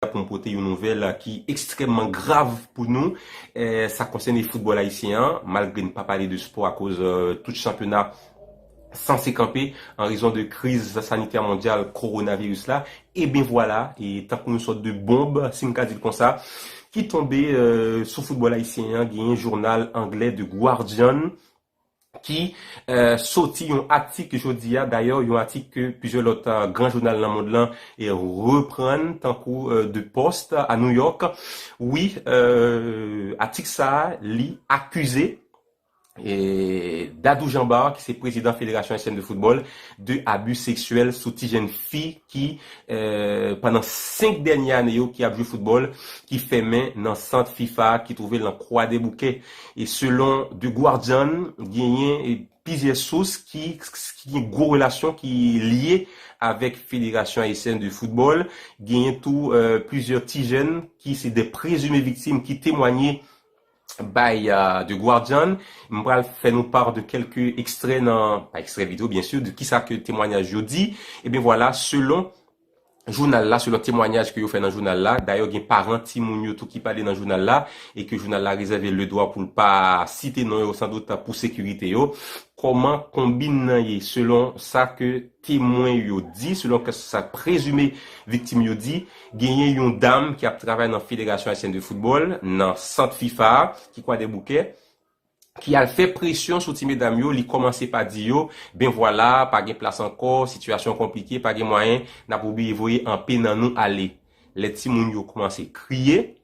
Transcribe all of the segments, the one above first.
pou nou pote yon nouvèl ki ekstrèmman grav pou nou. Sa konsène foutbòl ayisyen an, malgre n pa pale de spò akoz tout chanpyona sanse kanpe an rezon de kriz sanitè mondyal kowonaviris la. E byen vwala, tankou yon sòt de bonb, si m ka di l konsa, ki tonbe sou foutbòl ayisyen an, genyen jounal anglè The Guardian ki soti yon atik jodi a, dayè yon atik ke plizyè lòt gran jounal nan mond lan reprann tankou The Post a New York, wi atik sa a li akize Dadou Jean Bart ki se prezidan Federasyon Ayisyèn de Foutbòl de abi seksyèl sou ti jenn fi. ki pandan 5 dènye ane yo ki ap jwe foutbòl ki fèmen nan sant fifa a ki twouve l nan Kwadèboukè. E selon The Guardian, genyen plizyè sous ki gen gwo relasyon ki lye avèk federasyon ayisyèn de foutbòl, genyen tou plizyè ti jèn ki se de prezime viktim ki temwanye by The Guardian. M pral fè nou part de kèlke ekstrè nan, pa ekstrè video byen sur, de kisa ke temwanyaj yo di. E byen vwala, selon jounal la, selon temwanyaj ke yo fè nan jounal la, dayè gen paran timoun yo tou ki pale nan jounal la, e ke jounal la rezève le dwa pou l pa site non yo san dout pou sekirite yo. Kòman konbinn nan ye selon sa ke Temwen yo di, selon kè sa prezime viktim yo di, genyen yon dam ki ap travay nan Federasyon Ayisyèn de Foutbòl, nan sant fifa a, ki Kwadèboukè, ki al fè presyon sou ti medam yo, li kòmanse pa di yo, ben vwala, pa gen plas ankò, sitiyasyon an konplike, pa gen mwayen, n ap oblije voye anpe nan nou ale. Lè timoun yo kòmanse kriye.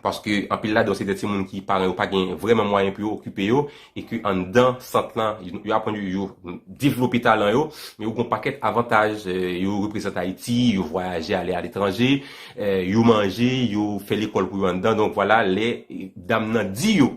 paske anpil ladan yo se de timoun ki paran yo pa gen vrèman mwayen pou yo okipe yo, e ke anndan sant lan, yo aprann yo, yo devlope talan yo, men yo gen yon pakèt avantaj, yo reprezante Ayiti, yo vwayaje ale aletranje, yo manje, yo fè lekòl pou yo anndan, donk vwala lè dam nan di yo,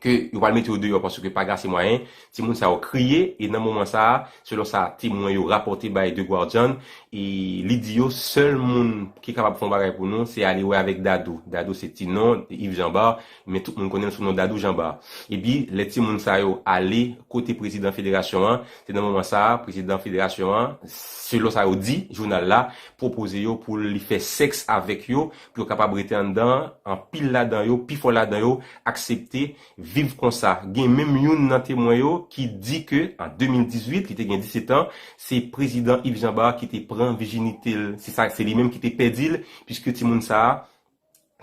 ke yo pral mete yo deyò paske pa gen ase mwayen, timoun sa yo kriye e nan moman sa a, selon sa temwen yo rapòte bay The Guardian, e li di yo sèl moun ki kapab fè yon bagay pou nou se ale wè avèk Dadou. Dadou se ti non Yves Jean Bart, men tout moun konnen l sou non Dadou Jean Bart. Epi lè timoun sa yo ale kote prezidan federasyon an, se nan moman sa a prezidan federasyon an, selon sa yo di jounal la, pwopoze yo pou li fè sèks avèk yo pou yo kapab rete anndan an, anpil ladan yo, pifò ladan yo, aksepte viv konsa. Gen menm youn nan temwen yo ki di ke an 2018, li te gen 17 an, se Prezidan Yves Jean Bart ki te pran vijinite l, se sa, se li menm ki te pèdi l, piske timoun sa a,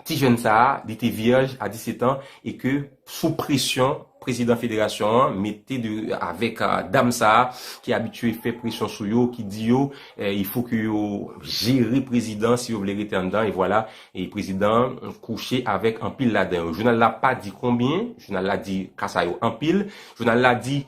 ti jèn sa a, li te vyèj a 17 an e ke, sou presyon prezidan federasyon an mete de avèk dam sa a ki abitye fè presyon sou yo, ki di yo il fo ke yo jere prezidan si yo vle rete anndan e vwala e prezidan an kouche avèk anpil ladan yo. Jounal la pa di konbyen, jounal la di ka sa yo anpil, jounal la di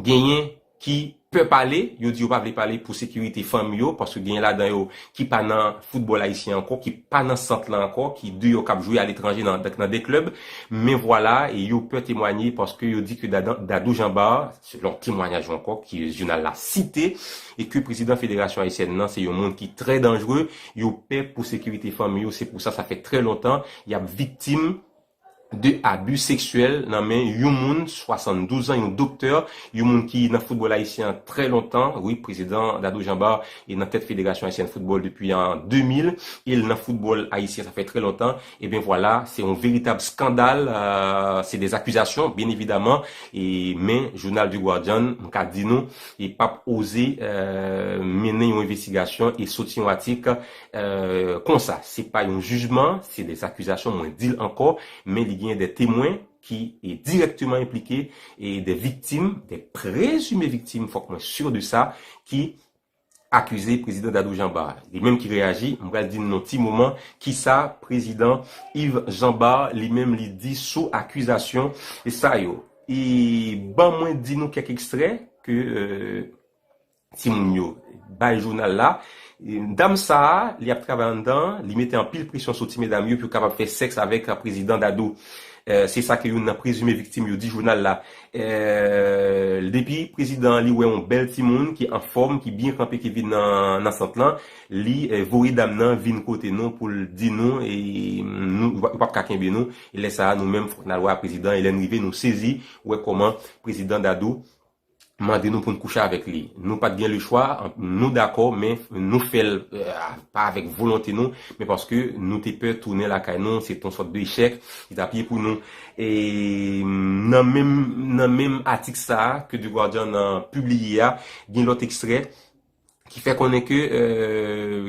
genyen ki pè pale, yo di yo pa vle pale pou sekirite fanmi yo, paske genyen ladan yo ki pa nan foutbòl ayisyen ankò, ki pa nan sant lan ankò, ki deyò k ap jwe aletranje nan nan de klèb, men vwala yo pè temwanye paske yo di ke Dadan Dadou Jean Bart, selon temwanyaj yo ankò ke jounal la site, e ke prezidan federasyon ayisyèn nan se yon moun ki trè danjre, yo pè pou sekirite fanmi yo, se pou sa sa fè trè lontan y ap viktim. de abi seksyèl nan men yon moun 72 an, yon doktè, yon moun ki nan foutbòl ayisyen an trè lontan, wi prezidan Dadou Jean Bart e nan tèt federasyon ayisyèn foutbòl depi an 2000 e l nan foutbòl ayisyen sa fè trè lontan, ebyen vwala se yon veritab skandal, se dè akizasyon byen evidaman e men jounal The Guardian m ka di nou e pap oze mennen yon envestigasyon e soti yon atik Konsa, se pa yon jijman, se des accusations, mwen di l ankò, men li genyen des temwen ki dirèkteman enplike, des victimes, des prezumes victimes, fòk mwen sur de sa, ki akize Prezidan Dadou Janbar. Li menm ki reyaji, m pral di n nan ti moman ki sa Prezidan Yves Janbar li menm li di sou akizasyon sa yo. E ban mwen di nou kèk ekstrè ke Timoun yo bay jounal la. Dam sa a, li ap travay anndan an, li mete anpil presyon sou ti medam yo pou yo kapab fè sèks avèk Prezidan Dadou. Se sa ke youn nan prezime viktim yo di jounal la. Depi prezidan an li wè yon bèl timoun ki anfòm, ki byen kanpe ki vin nan sant lan, li voye dam nan vin kote nou pou l di nou nou yo p ap ka kenbe nou. E lè sa a nou menm fòk n al wè a prezidan e lè n rive nou sezi wè kòman Prezidan Dadou mande nou poun kouche avèk li nou pat gen lechwa nou dakò men nou fèl pa avèk volonte nou men paske nou te pè tounen lakay nou se ton sòt de echèk li tap ye pou nou nan menm nan menm atik sa ke The Guardian pibliye a gen lòt ekstrè. ki fè konnen ke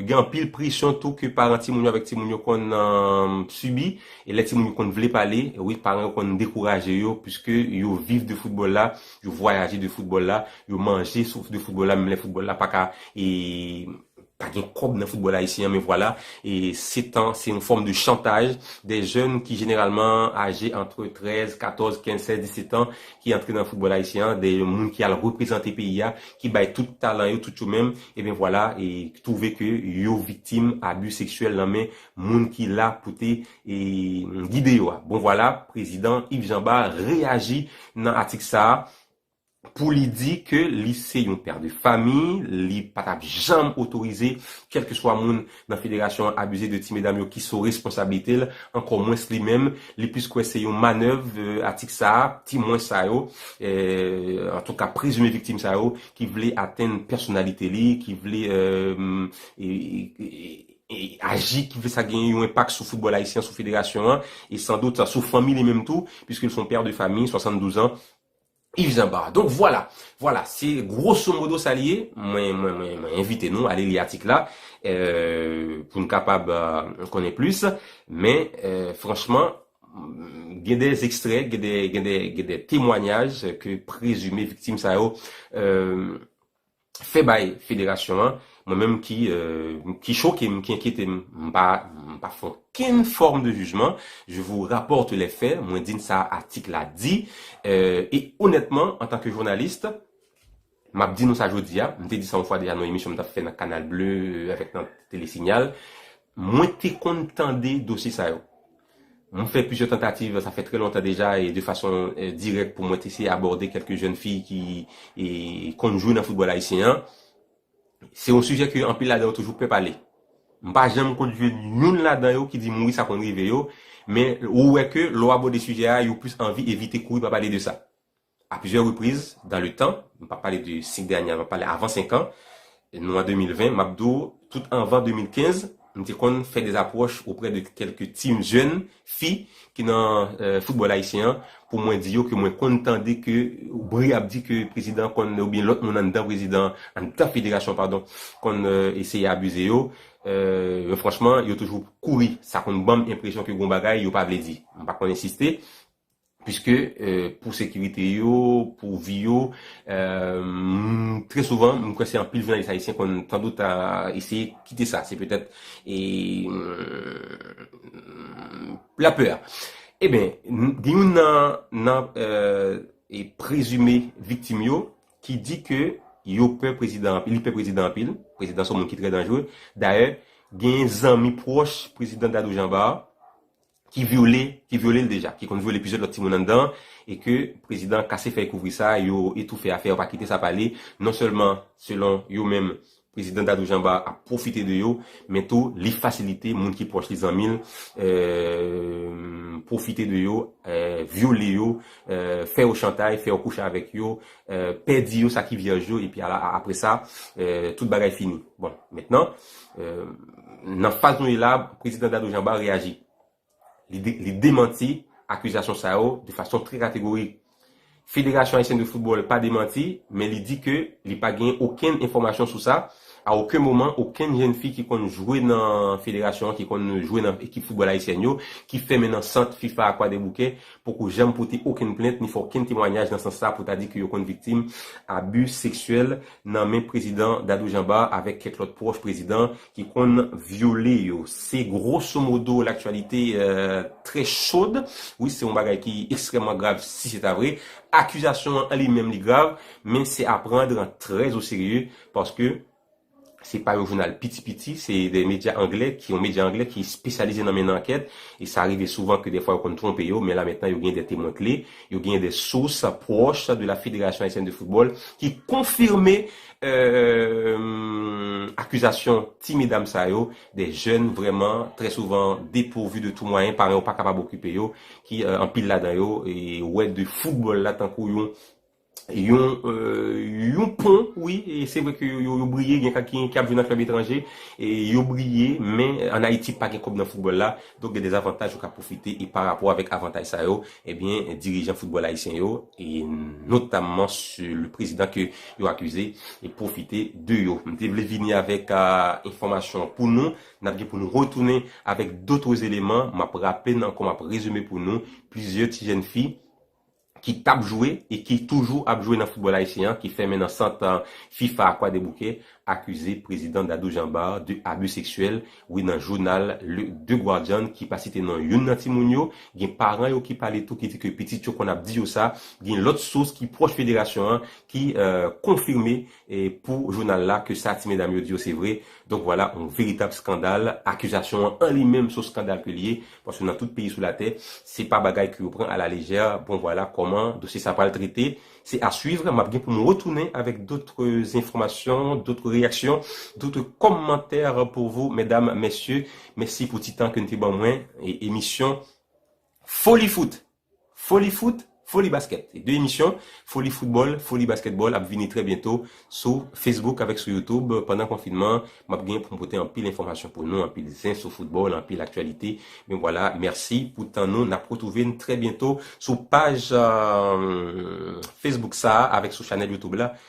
gen anpil presyon tou ke paran timoun yo avèk timoun yo konn sibi, e lè timoun yo konn vle pale, wi paran yo konn dekouraje yo, puiske yo viv de foutbòl la, yo vwayaje de foutbòl la, yo manje sou de foutbòl la, menm lè foutbòl la pa ka e pa gen kòb nan foutbòl ayisyen an men vwala, e se tan, se yon fòm de chantaj dè jèn ki jeneralman aje antre 13, 14, 15, 16, 17 an, ki antre nan foutbòl ayisyen an, de moun ki al reprezante peyi a, ki bay tout talan yo, tout yo menm, ebyen vwala, e ki twouve ke yo viktim abi seksyèl nan men moun ki la pou te gide yo a. Bon vwala, prezidan Yves Jean Bart reyaji nan atik sa a, pou li di ke li se yon pè de famiy, li pa t ap janm otorize kèlkeswa moun nan federasyon an abize de ti medam yo ki so responsablite l ankò mwens li menm li plis kwè se yon manèv atik sa a ti mwens sa yo antouka prezime viktim sa yo ki vle atenn pèsonalite li ki vle aji ki vle sa gen yon enpak sou foutbòl ayisyen sou federasyon an e san dout sou fanmi li menm tou piske l son pè de fami 72 an Yves Jean Barre. Donk vwala, vwala, se gwoso modo sa li ye. Mwen, mwen, mwen, mwen envite nou ale li atik la pou n kapab konnen plis. Men, franchman, gen de ekstrè, gen de, gen de, gen de temwanyaj ke prezime viktim sa yo fè bay federasyon an mwen menm ki ki choke m ki enkyete m m pa m pa fè okenn fòm de jijman je vous rapporte les faits mwen di n sa atik la di e onètman antan ke jounalis m ap di nou sa jodi a m te di sa yon fwa deja nan yon emisyon m t ap fè nan canal bleu avèk nan tele signal mwen te konn tande dosye sa yo Mwen fè plizyè tantativ, sa fè trè lontan deja, e de fason dirèk pou mwen te eseye abòde kèlke jèn fi ki konn jwe nan foutbòl ayisyen an. Se yon sijè ke anpil ladan yo toujou pè pale. M pa janm konn jwenn youn ladan yo ki di m wi sa konn rive yo, men ou wè ke lè w abòde sijè a, yo plis anvi evite kouri pa pale de sa. A plizyè repriz dan le tan, m pa pale de 5 dènye ane, m ap pale avan 5 an, nou an 2020, m ap di w tout anvan 2015, m te konn fè des apwòch oprè de kèlke team jèn fi ki nan foutbòl ayisyen an pou mwen di yo ke mwen konn tande ke bri ap di ke prezidan konn oubyen lòt moun anndan prezidan, anndan federasyon padon, konn eseye abize yo, men franchman yo toujou kouri, sa konn ban m enpresyon ke gen yon bagay yo pa vle di, m pa konn ensiste. Piske pou sekirite yo, pou vi yo, trè souvan, m kwè se anpil jounalis ayisyen konn tando ta eseye kite sa. Se petèt la pè a. Eben, gen youn nan prezime viktim yo ki di ke yo pè prezidan anpil, li pè prezidan anpil, prezidan se yon moun ki trè danjre. Dayè, gen zanmi pwòch prezidan Dadou Jean Bart ki vyole, ki vyole l deja, ki konn vyole plizyè lòt timoun anndan an, e ke prezidan an kase fèy kouvri sa, yo etoufe afè a, yo pa kite sa pale, non sèlman, selon yo menm, prezidan Dadou Janba ap pwofite de yo, men tou li fasilite moun ki pwòch li, zanmi l, pwofite de yo, vyole yo, fè yo chantay, fè yo kouche avèk yo, pèdi yo sa ki vyèj yo, epi ala, apre sa, tout bagay fini. Bon, mentnan, Nan faz nou ye la, Prezidan Dadou Jamba reyaji. Li demanti akizasyon sa yo de fason trè kategorik. Federasyon Ayisyèn de Foutbòl pa demanti, men li di ke li pa genyen okenn enfòmasyon sou sa. A oken moman, okenn jenn fi ki konn jwe nan federasyon an, ki konn jwe nan ekip foutbòl ayisyèn yo, ki fèmen nan sant fifa a Kwadèboukè, poko janm pote okenn plent ni fè okenn temwanyaj nan sans sa pou ta di ke yo konn viktim abi seksyèl nan men prezidan Dadou Janba avèk kèk lòt pwòch prezidan ki konn vyole yo. Se grosso modo l'actualité très chaude. Wi, se yon bagay ki ekstrèmman grav si se ta vre. Akizasyon an li menm li grav, men se a prendre très au sérieux paske se pa yon jounal piti piti, se de medya anglè, yon medya anglè ki espesyalize nan mennen ankèt e sa rive souvan ke dèfwa yo konn twonpe yo, men la mentnan yo gen de temwen kle. Yo genyen des sources proches de la Fédération Haïtienne de Football ki konfime akizasyon ti medam sa yo, des jeunes vrèman très souvent depourvues de tout moyen, paran yo pa kapab okipe yo, ki anpil ladan yo wè de football la tankou yon yon pon wi, se vre ke yo briye, gen kèk ki ap jwe nan club etranje, yo briye men an Ayiti pa gen kòb nan football la, Donk gen dezavantaj yo ka pwofite e parapò avèk avantaj sa yo, ebyen dirijan foutbòl ayisyen yo e notamman se le prezidan ke yo akize e pwofite de yo. M te vle vini avèk enfòmasyon pou nou, n ap gen pou nou retounen avèk dotres eleman, m ap raple n ankò m ap rezime pou nou plizyè ti jèn fi, ki t ap jwe e ki toujou ap jwe nan foutbòl ayisyen an ki fèmen nan sant fifa a Kwadèboukè akize prezidan Dadou Jean-Bart de abi seksyèl wi nan jounal le The Guardian ki pa site non youn nan timoun yo gen paran yo ki pale tou ki di ke pitit yo konn ap di yo sa gen lòt sous ki pwòch federasyon an ki konfime E pou jounal la ke sa ti medam yo di yo se vre, donk vwala yon veritab skandal, akizasyon an an li menm son skandal ke li ye, paske nan tout peyi sou latè, se pa bagay ke yo pran a la lejè, bon vwala kòman dosye sa pral trete, se a suivre, map gen pou m retounen avèk dotre enfòmasyon, dotre reyaksyon, dotre kòmantè pou vou medam, mesye, mèsi pou ti tan ke n te ban mwen, e emisyon foli fout! Foli Foot, Foli Basket. De emisyon Foli Football, Foli Basketball ap vini trè byento sou Facebook avèk sou YouTube. Pandan konfinman an, m ap genyen pou m pote anpil enfòmasyon pou nou, anpil zen sou football, anpil aktyalite. Men vwala, mèsi pou tan nou. N ap retwouve n trè byento sou paj Facebook sa a avèk sou chanèl YouTube la.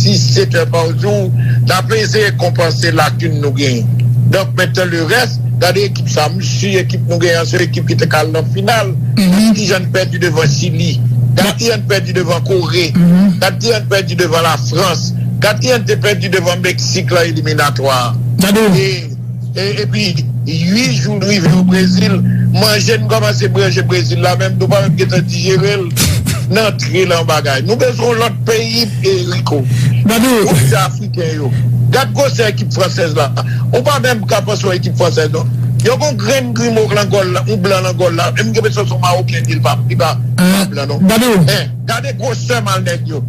6, 7 è pa jou, n ap eseye konpanse lakin nou genyen. Donk mentan le rès, gade ekip sa, m si ekip nou genyen an se yon ekip ki te ka al nan final. Gade ki jan n pèdi devan Chili, gade ki jan n pèdi devan Kore, gade ki jan n pèdi devan Lafrans, gade ki jan n te pèdi devan Meksik lan eliminatwa a. Epi 8 jou l rive o Brezil, manje n kòmanse branje Brezil la menm nou pa menm gentan dijere l n antre lan bagay. Nou bezwen yon lòt peyi Rico pou ti afriken yo. Gad gwosè ekip fransèz la. Ou pa menm ka panse yon ekip fransèz non. Yo gen yon grenn grimo lan gòl la, yon blan lan gòl la. Em gen enpresyon se yon mawoken li ye li pa blan non. Men gade gwosè mal nèg yo.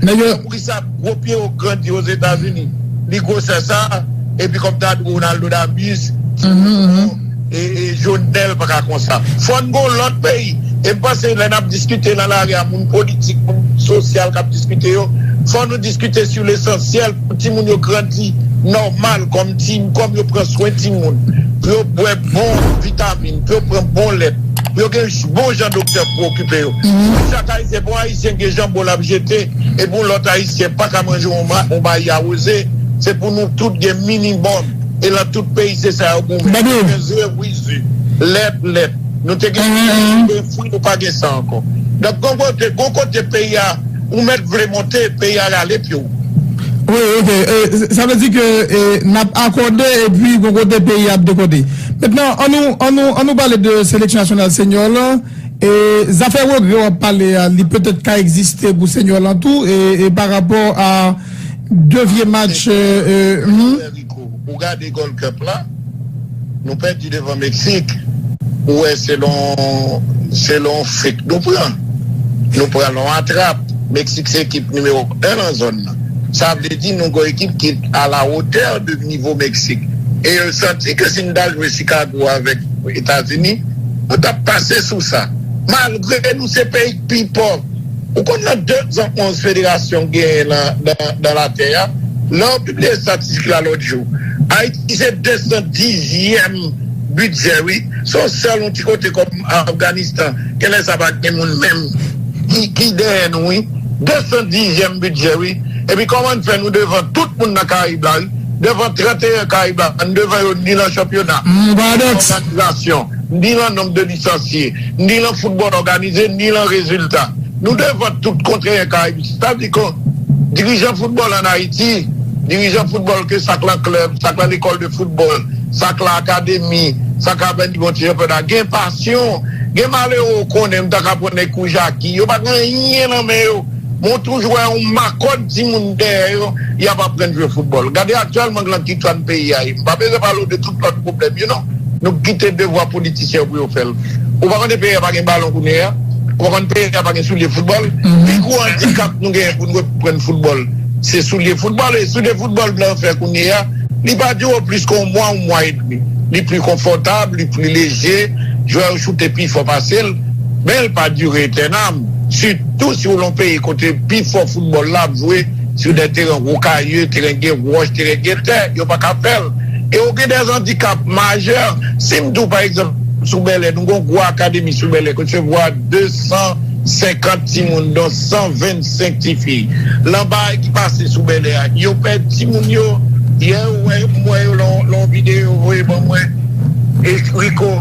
Sa gwo pye yo gran di ozetazini li gwosè sa epi kòm ta di Ronaldo da bus ti Ronaldo e johnel paka konsa fòn gon lòt peyi em panse lè nap diskite nan lari a moun politik moun sosyal kap diskite yo fò nou diskite su lesansyèl pou ti moun yo grandi nòmal kòm ti kòm yo pran swen ti moun pou yo bwè bon vitamin pou yo pran bon lèt pou yo gen bon jan doktè pou okipe yo chak ayisyen pou ayisyen. Se gen janbon lap jete epi yon lòt ayisyen paka manje yon bayi awoze se pou nou tout gen minimòm e lan tout peyi se sa yo goumen nou te gen ze wi ze lèt lèt nou te gen fwi nou te gen fwi nou pa gen sa ankò donk gon kote gon kote peyi a ou mèt vle monte peyi a rale pye w. Wi ok sa vle di ke nap akòde epi gon kote peyi a ap dekòde mentnan an nou an nou an nou pale de seleksyon nasyonal senyò lan. E zafè regrè wap pale a li petèt ka egziste pou Senyò lan tou e pa rapò a 2 vye match humm. Ou gade Gold Cup la nou pèdi devan Meksik ou wè se lon se lon fek nou pran nou pran lon atrap Meksik se ekip nimewo 1 lan zòn nan sa vle di nou gon ekip ki a la wotè de nivo Meksik e yo santi ke si nou ta jwe Chicago avèk Etazini. Ou tap pase sou sa. Malgre nou se peyi k pi pòv. Ou konn nan 2 zan 11 federasyon k genyen nan latè a? Lè yo pibliye estatistik la lòt jou. Ayiti se 210 zyèm bidjè wi. Se yon sèl yon ti kote kòm Afganistan. Genlè sa pa gen moun menm ki dèyè nou wi. 210 zyèm bidjè wi. Epi kòman n fè nou devan tout moun nan karayib la wi. devan 31 Caiba, n devan yo ni lan chanpyona, ni lan òganizasyon, ni lan nonb de lisansye, ni lan foutbòl òganize, ni lan rezilta. Nou devan tout kon 31 Caibe. Sa vle di kon dirijan foutbòl an Ayiti, dirijan foutbòl ke sa k lan klèb, sa k lan lekòl de foutbòl, sa k lan akademi, sa k avèn nivo ti chanpyona, gen pasyon. Gen malere ou konnen, m ta ka pran nèg kou Jaki, yo pa gen anyen lan men yo. Mwen toujou wè yon makòn timoun dèyè yo, y ap aprann jwe foutbòl. Gade aktyèlman lan ki tran peyi a ye. M pa bezwen pale w de tout lòt pwoblèm yo non. Nou k kite devwa politisyen yo pou yo fè l. Ou pa konnen peyi a pa gen balon kounye a? Ou pa konnen peyi a pa gen soulye foutbòl? Pi gwo andikap nou genyen pou n reprann foutbòl, se soulye foutbòl. E soulye foutbòl blan fè kounye a, li pa dire plis ke yon mwa, yon mwa edmi. Li pli konfòtab, li pli leje, jwè yo choute pi fò pase l. men l pa dire etènam, sitou si w lan w peyi kote pifò foutbòl la ap jwe sou dè teren rokayeu, teren gen wòch, teren gen tè, yo pa ka fè l e w gen dè zandikap majè. Si m di w pa egzanp sou Bèlè, nou gen yon gwo akademi sou Bèlè ki resevwa 250 timoun don 125 tifi lan bagay ki pase sou Bèlè a, yo pè timoun yo. Yè ou wè yo, m wè yo lan yon videyo yo voye ban mwen, Rico,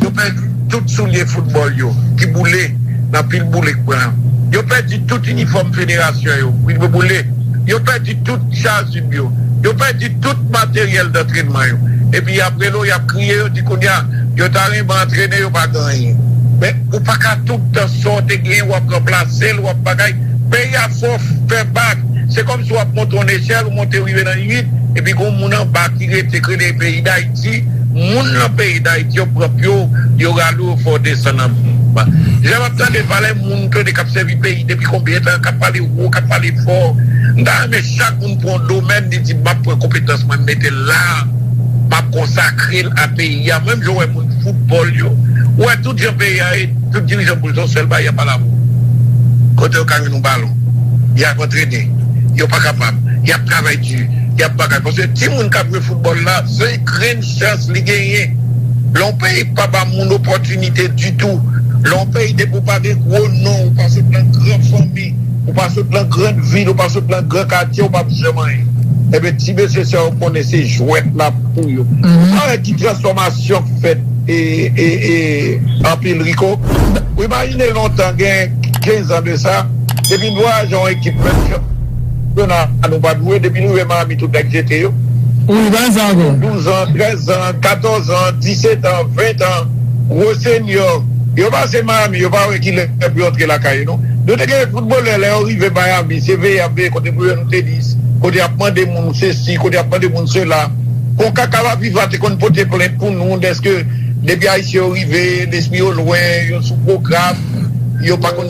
yo pè. tout soulye foutbòl yo ki boule nan pil boule k pran yo pèdi tout inifòm federasyon yo k boule yo pèdi tout chazib yo yo pèdi tout materyèl dantrenman yo epi y ap rele w y ap kriye yo di kounye a yo ta renmen antrene yo pa gen anyen men ou pa ka tout tan sa w te gen w ap ranplase l w ap bagay peyi a fò fè bak se kòmsi w ap monte yon nechèl ou monte rive nan 8 epi gen yon moun anba ki rete k rele peyi dayiti. Ayiti, moun lan peyi Dayiti yo pran pyo, yo rale w, yo fè w desann anba. Lè map tande valè moun tande kap sèvi peyi depi konbyen tan, kap pale wo, kap pale fò, m ta renmen chak moun pran yon domèn li di map pran konpetans mwen m mete l la, map konsakre l a peyi a. Menm jan ou wè moun foutbòl yo, ou wè tout jan peyi a ye, tout dirijan pou l se yon sèl bagay yap ala wou. Kote yo ka jwenn yon balon, yap antrene, yo pa kapab, yap travay di, yap bagay paske timoun kap jwe. foutbòl la se grenn chans li genyen. Lè yon peyi pa ba moun opòtinite ditou, lè yon peyi depi ou pa gen gwo non, ou pa sot nan gran fanmi, ou pa sot nan gran vil, ou pa sot nan gran katye, ou pap janm anyen. Enben ti mesye sa yo konnen se jwèt la pou yo. Ou pa wè ki transfòmasyon k fèt anpil Rico? Ou imajine lontan gen 15 an de sa, depi n vwayaje yon ekip menm jan. Dona nou pa dwe depi l rive Miami tout nèg jete yo. Ou li bay sa ankò. Douzan, trèzan, katòzan, disetan, ventan, gwo senyò, yo pase Miami yo pa wè kilè pou yo antre lakay yo non. Nou te gen foutbolè lè yo rive Miami se veye yap veye kote pou yo jwenn tenis, kote yap mande moun sesi, kote yap mande moun sela. Concacaf la fifa te konn pote plent pou nou dèske depi ayisyen yo rive lespri yo lwen, yo sou pwogram, yo pa konn.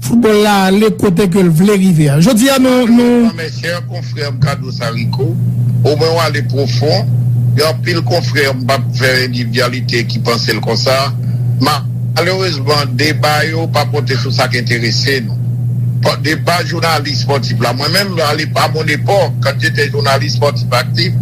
Football la ale kote ke l vle rive a. Jodi a nou. Malerezman mes chers confrères m ka di w sa Rico, o mwen w ale pwofon, gen anpil confrères m pa p fè endividyalite ki panse l konsa, malerezman deba yo pa pote sou sa k enterese nou. Deba jounalist spòtif la, mwen menm a mon epòk, quand j'étais journaliste sportif actif,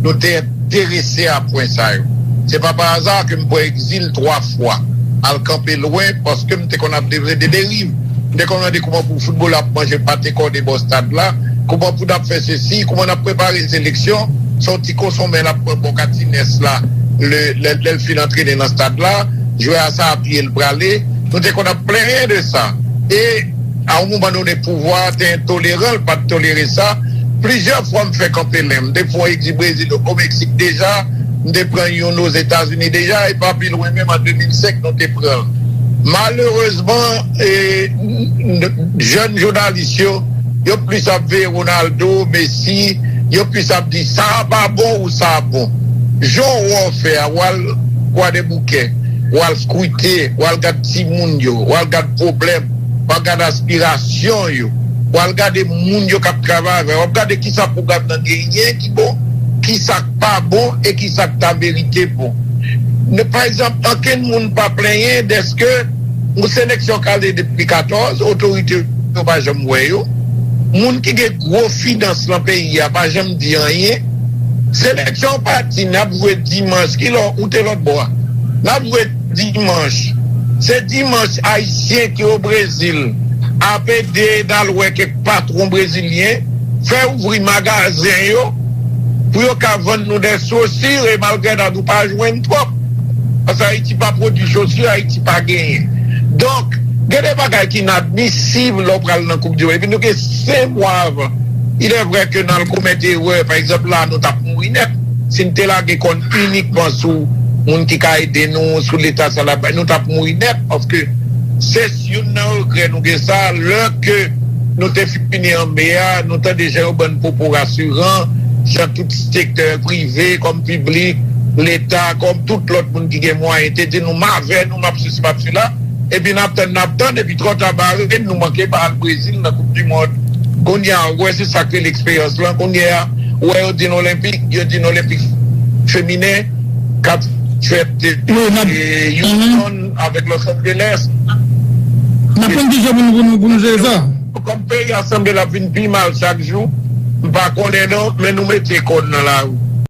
nou te. Terese a pwen sa yo. Se pa pa aza ke m pran egzil twa fwa, al kanpe lwen paske m te konn ap devre de deriv. M te konn mande kouman pou foutbolè ap manje pate kòde bò stad la, kouman pou n ap fè sesi, kouman n ap prepare seleksyon, se yon ti konsonmen l ap pran bò katinès la lè l fin antrene nan stad la, jwè a sa a pye l prale. Nou te konn ap plenyen de sa e. A yon moman done pouvwa a te entoleran, l pa t tolere sa. Plizyè fwa m fè kanpe men. M te fè yon egzi Brezil, o Meksik deja, m te pran youn Ozetazini deja e pa pi lwen menm an 2005 nou te pran l. Malerezman, jèn jounalis yo, yo plis ap veye Ronaldo, Messi, yo plis ap di sa a pa bon ou sa a bon. Jan w wè w fè a, w al Kwadèboukè, w al skwite, w al gad timoun yo, w al gad pwoblèm. Wap gade aspirasyon yo. Wal gade moun yo kap travay avè yo. Wap gade kisa pwogram nan genyen ki bon, kisa k pa bon e kisa k ta merite bon. Pa egzanp, ankenn moun pa plenyen dèske yon seleksyon k ale depi 14, otorite yo pa janm wè yo. Moun ki gen gwo finans lan peyi a pa janm di anyen. Seleksyon an pati, nap jwe dimanch, kilè ou te lòtbò a? Nap jwe. Dimanch, se dimanch Ayisyen ki o Brezil ap ede e al wè kèk patwon brezilyen fè ouvri magazen yo pou yo ka vann nou dè chosir e malgrèdat nou pa jwenn twòp paske Ayiti pa pwodwi chosir, Ayiti pa genyen. Donk, gen de bagay ki inadmisib lè w pral nan koup di mond epi nou gen 5 mwa avan. Ilèvrè ke n al komèt erè, pa egzanp la nou t ap mouri nèt. Si m te lage kò n inikman sou moun ki ka ede nou, sou leta sa lap bay, nou tap mouri nèt paske se youn nan regrè nou gen sa lè ke nou te fini an me a nou tande jan yo bann pwopo rasiran jan tout sektè prive kòm piblik leta kòm tout lòt moun ki gen mwayen te di nou m avè nou. nou map sesi map sela epi nap tann nap tann epi trò ta bare nou manke pa al brezil nan koup di mond kounya ou wè se sak rele eksperyans lan kounya ou wè yo di n olenpik yo di n olenpik feminen kap fèt Houston avèk Los Angeles kòm peyi a sanble lap vin pi mal chak jou m pa konnen non men nou mete kò n nan lari.